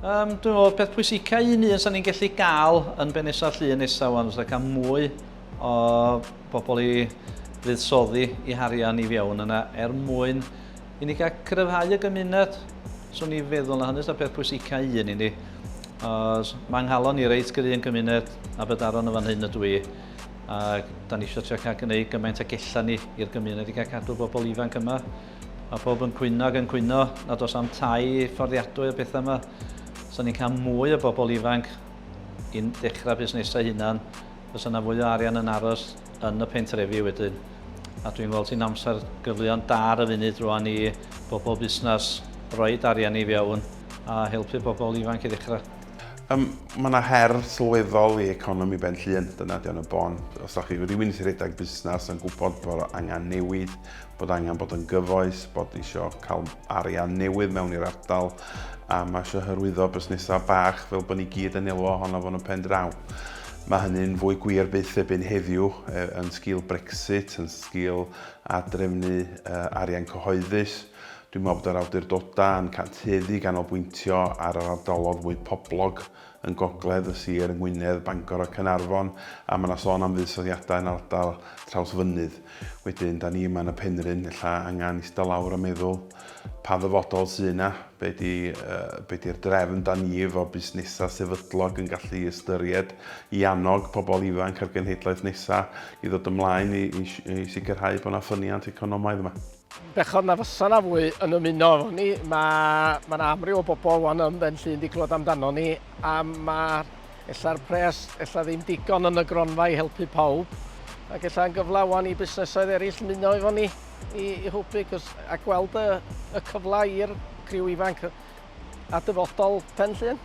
Um, dwi'n meddwl, peth pwysica un un sy'n ni'n gallu gael yn Benesa Llun nesaf wan, fysa cael mwy o bobl i fuddsoddi i harian i fiewn yna er mwyn i ni gael cryfhau y gymuned. So ni feddwl na hynny sy'n peth pwysica un i ni. Os mae nghalon ni reit gry yn gymuned a bydaron yn fan hyn y dwi, ac da ni eisiau cael gwneud gymaint ag ella ni i'r gymuned i gael cadw bobl ifanc yma. Mae pawb yn cwyno ac yn cwyno nad oes am tai fforddiadwy a pethau yma. Os ni'n cael mwy o bobl ifanc i'n dechrau busnesau hunan, fysa yna fwy o arian yn aros yn y pentrefi wedyn. A dwi'n gweld sy'n amser gyfleon da ar y funud rwan i bobl busnes roed arian i fewn a helpu bobl ifanc i ddechrau. Yym, mae yna her sylweddol i economi Benllyn, dyna ydy o'n y bon. Os da chi rywun sy'n rhedeg busnes yn gwybod bod angen newid, bod angen bod yn gyfoes, bod ni isio cael arian newydd mewn i'r ardal a mae eisiau hyrwyddo busnesau bach fel bod ni gyd yn elwa ohono fo'n y pen draw. Mae hynny'n fwy gwir byth ebyn heddiw e, yn sgil Brexit, yn sgil adrefnu e, arian cyhoeddus. Dwi'n meddwl bod yr awdurdodau yn cantueddu ganolbwyntio ar yr ardalodd fwy poblog yn gogledd y sir yng Ngwynedd, Bangor a Caernarfon, a mae 'na sôn am fuddsoddiadau yn ardal Trawsfynydd. Wedyn, 'da ni yma yn y Penrhyn, ella angen ista lawr a meddwl, pa ddyfodol sy' yna? Be' 'di, be' 'di'r drefn 'da ni efo busnesau sefydlog yn gallu ystyried i annog pobl ifanc a'r genhedlaeth nesa' i ddod ymlaen i i i sicrhau bod 'na ffyniant economaidd yma? Bechod na fysa 'na fwy yn ymuno efo ni. Mae ma 'na amryw o bobl rwan ym Mhen Llŷn 'di clywed amdano ni a mae ella'r pres ella ddim digon yn y gronfa i helpu pawb ac ella'n gyfle rwan i busnesoedd eraill ymuno efo ni i i hwbu 'c'os a gweld y y cyfle i'r criw ifanc a dyfodol Pen Llŷn.